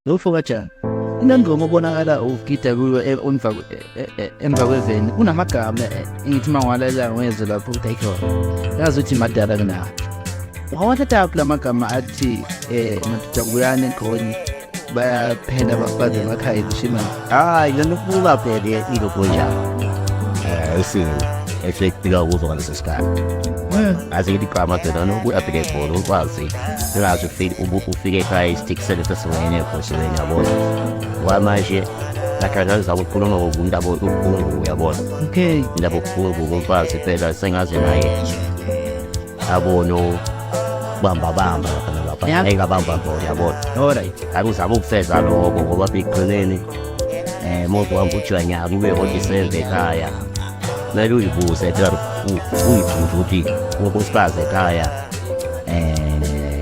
Ufokaja unengoma obonakala ugida kuyo e, emva e, e, emva kweveni kunamagama engithi uma ngiwalalela ngwezwe lapho ukuthi ayikho yazi ukuthi madala kunawo wawathathaphi la magama athi um madoda kuyane khonye bayaphenda bafaze emakhaya kushima hayi lento kuba bheke ilogoja eh sini esekufika kuzo ngaleso sikhathi aze ngithi gama phela nokuya bheke ibhola ukwazi singazi ufike ufike ekhaya isitiki sele sesiwene ekhosheni yabona wamanje akadlalisa ukukhuluma ngokumuntu abokukhulu uyabona okay indaba okukhulu kumfazi phela sengaze naye abone ukubamba bamba lapha Yeah. ngeke abamba bona yabona Alright. akuzama ukufeza lokho ngoba ekugcineni um muntu wami kuthiwa nyaka kube odiseve ekhaya kumele uyibuze ekhaya uyibuze ukuthi unkosikazi ekhaya um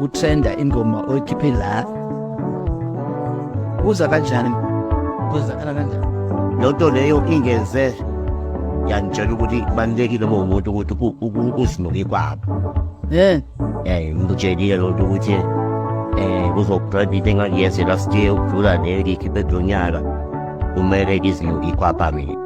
utrenda ingoma oyikhiphe la uza kanjani kuzakala kanjani loo nto leyo ingeze yangitshela ukuthi kubalulekile uma umuntu ukuthi uzinuke kwabo um ngikutshelile loo nto ukuthi um kuzobrand into engangiyenze last year ukudlula leyo ngiyikhiphe kulo nyaka kumele ngizinuke ikwapha mina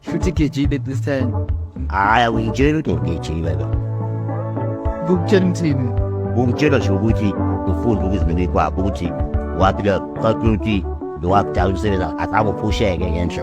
Shuti keçiyi de sen. Aya uyitshela ukuthi ngigijile lo. Kukutshela umthini. Ukutshela nje ukuthi ufunde ukuzimela kwakho ukuthi wathi lo kwakuthi lo wakudala umsebenzi akabophusheke ngenhla.